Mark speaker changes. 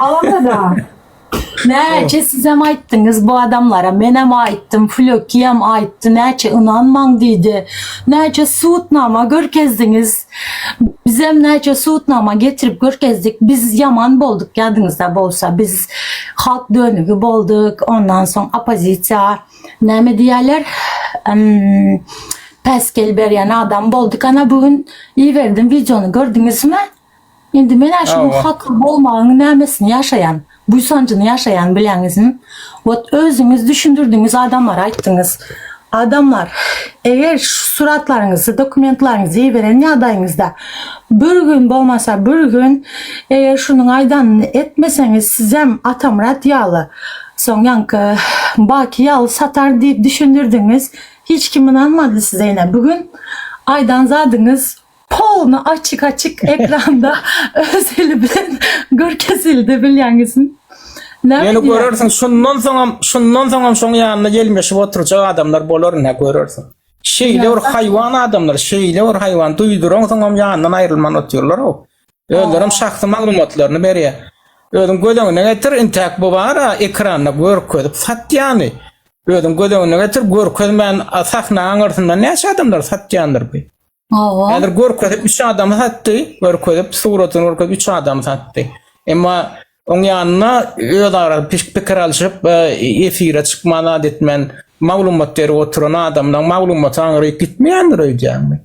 Speaker 1: Alamada. Näçe sizem aýtdyňyz bu adamlara, menem aýtdym, Flökiyem aýtdy, näçe ynanmaň diýdi. Näçe sudnama görkezdiňiz. Bizem näçe sudnama getirip görkezdik. Biz ýaman bolduk ýadyňyzda bolsa. Biz halk dönügi bolduk. Ondan soň oppozisiýa näme diýýärler? Päsgel berýän adam bolduk. Ana bu gün iberdim wideony gördüňizmi? Indi men-ä şunuň Hawa. hatly bolmagyň nämesini ýaşaýan, buýsanjyny ýaşaýan bileňizmi? Wot, özüňiz düşündirdiňiz, adamlara aýtdyňyz. Adamlar, eger şu suratlaryňyzy, dokumentlaryňyzy iberen ýagdaýyňyzda, bir gün bolmasa bir gün, eger şunuň aýdanyny etmeseňiz, sizem Atamyrat ýaly, soň ýaňky Baki ýaly satar diýip düşündirdiňiz. Hiç kim ynanmady size ine. Bu gün aýdan zadyňyz Polny açyk açyk ekranda öz eli bilen görkezildi bilýäňizmi? Ýöne
Speaker 2: görersiň şundan soňam şundan soňam şoň ýanyna gelmeşip oturjak adamlar bolar nä görersiň. Şeýle bir haýwan adamlar, şeýle bir haýwan duýduran soňam ýanyndan aýrylman otyrlar o. Özlerem şahsy maglumatlaryny berýär. Özüň göz öňüne getir, intäk bu bara ekranda görkezip satýany. Özüň göz öňüne getir, görkezmän sahna aňyrsynda näçe adamlar satýandyr bu. Oho. Häzir görkezip üç adam satdy, görkezip suratyny görkezip üç adam satdy. Emma oň ýanyna öz ara pik- pikir alşyp, e, efire çykman zat etmän maglumat berip oturan adamdan maglumat aňryk gitmeýändir öýdýäňmi?